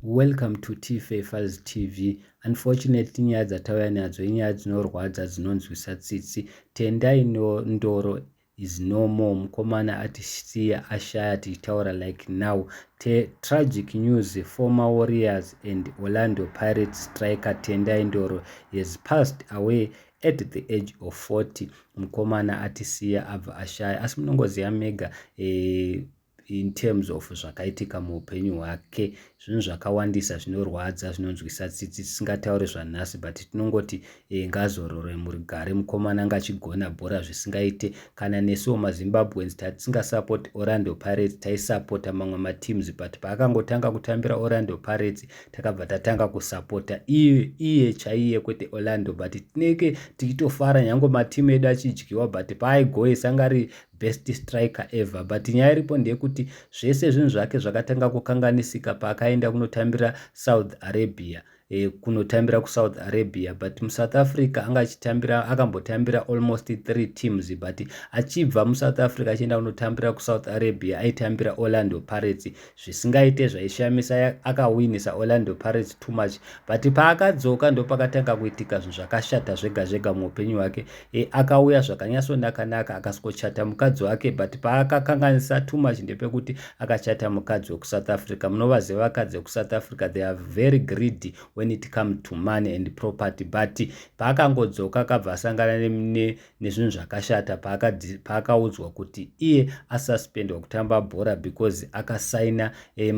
Welcome to Tife Fuzz TV. Unfortunately nyaya dzatauya nadzo inyaya dzinorwadza dzinonzwisa tsitsi. Tendai no, ndoro is no more. Mukomana atisiya ashaya tichitaura like now. Te, tragic news former Warriors and Orlando Pirates striker Tendai Ndoro has passed away at the age of 40. Mukomana atisiya abva ashaya asi munongoziva mega eh, in terms of zvakaitika muupenyu hwake zvinhu zvakawandisa zvinorwadza zvinonzwisa tsitsi tisingataure zvanhasi but tinongoti e, ngazorore murigare mukomana ngachigona bhora zvisingaite kana nesuwo mazimbabweans tatisingasapoti orlando pirates taisapota mamwe mateams but paakangotanga kutambira orlando pirates takabva tatanga kusapota iye, iye chaiye kwete orlando but tinenge tichitofara nyange matimu edu achidyiwa but paaigoesa ngari best striker ever but nyaya iripo ndeyekuti zvese zvinhu zvake zvakatanga kukanganisika paakaenda kunotambira south arabia e, kunotambira kusouth arabia but musouth africa anga achitambira akambotambira almost three teams but achibva musouth africa achienda kunotambira kusouth arabia aitambira orlando pirates zvisingaite zvaishamisa akawinisa orlando pirates too much but paakadzoka ndopakatanga kuitika zvinhu zvakashata zvega zvega muupenyu hwake e, akauya zvakanyasonakanaka akasikochata mukadzi wake but paakakanganisa too much ndepekuti akachata mukadzi wekusouth africa munovaziva vakadzi vekusouth africa they are very greedy when it come to money and property but paakangodzoka akabva asangana ne, ne, nezvinhu zvakashata paakaudzwa paaka kuti iye asuspendwa kutamba bhora because akasaina eh,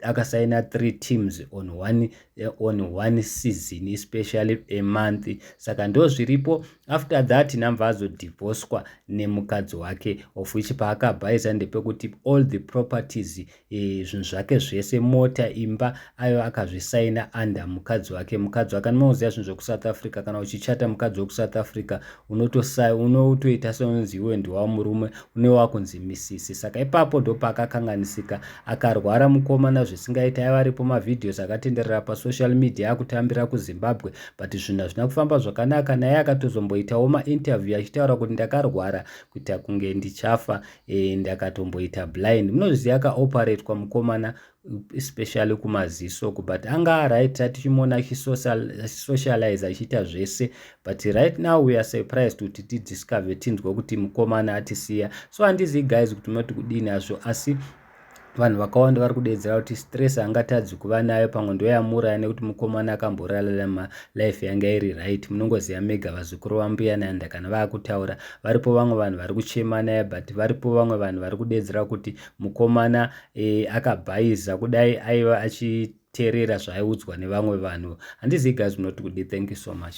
akasaina three teams on one, eh, on one season especially a month saka ndo zviripo after that nambva azodivhoswa nemukadzi wake of which paakabhaisa ndepekuti all the properties e, zvinhu zvake zvese mota imba ayo akazvisaina under mukadzi wake mukadzi wake anomaoziva zvinhu zvekusouth africa kana uchichata mukadzi wekusouth africa unotosa unotoita seunonzi iwe ndiwa murume une wakunzi misisi saka ipapo ndopaakakanganisika akarwara mukomana zvisingaita aiva aripo mavhidhios akatenderera pasocial media akutambira kuzimbabwe but zvinhu hazvina kufamba zvakanaka naye akatozomboitawo mainterview achitaura kuti ndakarwara kuita kunge ndichafa e, ndakatomboita blind munozviziva akaoperatwa mukomana especially kumaziso ku but anga right tatichimuona achisocialize achiita zvese but right now we are surprised kuti tidiscover tinzwe kuti mukomana atisiya so handizivi guys kuti munoti kudini azvo asi Vanhu vakawanda vari kudeedzera kuti stress angatadzi kuva nayo pamwe ndoyamuuraya nekuti mukomana akamborarama life yanga iri right munongoziva mega vazukuru vambuya nanda kana vakutaura varipo vamwe vanhu vari kuchema naye but varipo vamwe vanhu vari kudeedzera kuti mukomana e, akabhaiza kudai aiva achiteerera zvaaiudzwa nevamwe vanhu handizivi guys munoti kudi thank you so much